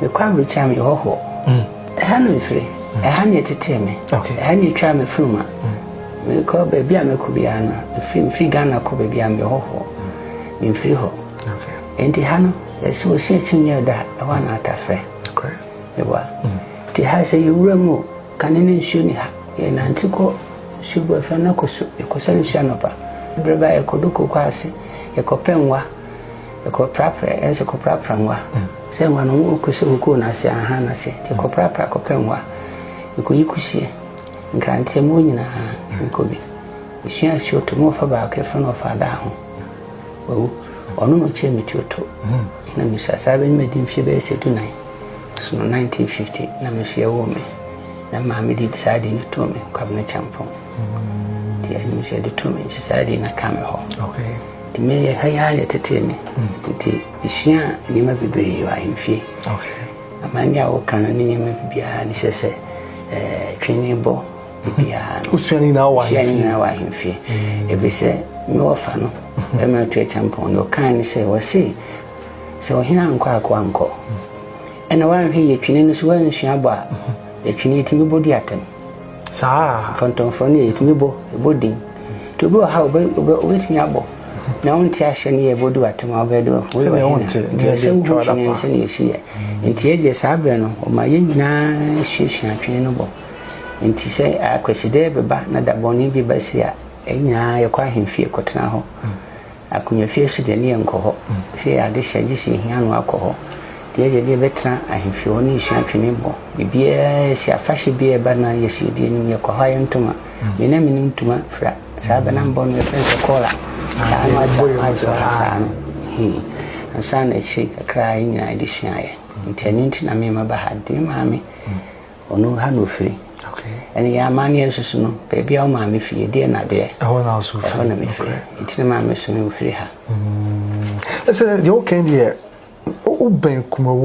mekɔ aburokyia meyɛ hɔhoɔ ɛha na mefiri ɛha na ɛtetee me ɛha na ɛtwaa me funuma mekɔ baabi a mɛkɔ biara no mefiri mefiri ghana kɔ baabi a meyɛ hɔhoɔ memfiri hɔ ɛnti ha no ɛsɛ ɔsi akyi nyɛ da ɛhɔ a na atafrɛ ɛwa nti ha sɛ yɛwura mu kane ne nsuo ni ha yɛnante kɔ nsuo bu afra no akɔ so yɛkɔsɛ nsuo anɔpa berɛ ba yɛkɔdo koko ase yɛkɔpɛ nwa Kɔprapra ɛyɛ sɛ kɔprapra nwa sɛ nwa no wo kɔsi wo koo n'ase aha n'ase nti kɔprapra kɔpɛ nwa mekɔyi kusie nkrante mu nyinaa mekɔbi mesua asuo to mu ɔfa baako ɛfɛ na ɔfa adaa ho wawu ɔno na ɔkyerɛ metuo to na mesua saa bɛne madi mfie bɛyɛ sɛ dunan so no 1950 na mesua wɔ me na maame de saa de no too me kwabena kyampɔn nti ɛno mesua de too me nti saa de na ka me hɔ Me ha yi ara na ɛtetee me nti mesua nneɛma bebree wɔ ahemfie amanne a wɔka no ne nneɛma bibiara ne sɛ sɛ eh, twene bɔ bibiara no wosua ne nyinaa wɔ ahemfie mm. ɛfiri sɛ me wɔfa no mm-hmm. bɛma atu akyampɔn no ɔkaa ne sɛ wɔse sɛ ɔhene ankɔ akoa nkɔ mm. ɛna woanhwɛ yɛ twene no so woansua bɔ a mm-hmm. ɛtwene yɛtumi bɔdi atɛm saa a. Mfɔntɔmfrɔ no yɛ ɛtumi bɔ ɛbɔ din nti obi wɔ ha wobɛtumi abɔ na wonte ahyɛ no yɛ bɔdu atem a wobɛde sɛ wohu twene no sɛne ɛsiyɛ nti ɛdeɛ saa berɛ no ɔma yɛ nyinaa suasua twene no bɔ nti sɛ akwasidɛ bɛba na dabɔne bi bɛsi a ɛnyinaa yɛkɔ ahemfie kɔtena hɔ Akonnwa fie so deɛ ne yɛnkɔ hɔ. Sɛ yɛ ade hyɛ gye sɛ yɛhia ano akɔ hɔ. Deɛ yɛyɛ deɛ yɛbɛtena ahemfie hɔ ne yɛsua twene bɔ. Biribiara si afahyɛ biara ɛba no a yes yɛdi anim yɛkɔ hɔ a yɛn ntoma. Me na menim ntoma fira. Saa bɛnam bɔ no yɛfrɛ no sɛ kɔɔla. Saa no akyɛ ama ayɛ sɛ ɔha saa no. Hmm. Ansa na akyire kakra yɛn nyinaa yɛde suaeɛ. Nti ɛno nti na me maba ha. Nti me maame. Ɔno ha na ɔfiri. Ɛne yɛ amanneɛ nso so no, baabi a wo maame fie, ɛdeɛ na deɛ. Ɛhɔ na nso firi. Ɛhɔ na mefiri. Nti na maame so me mfiri ha. Ɛsɛ deɛ wokan deɛ wobɛn kumawu.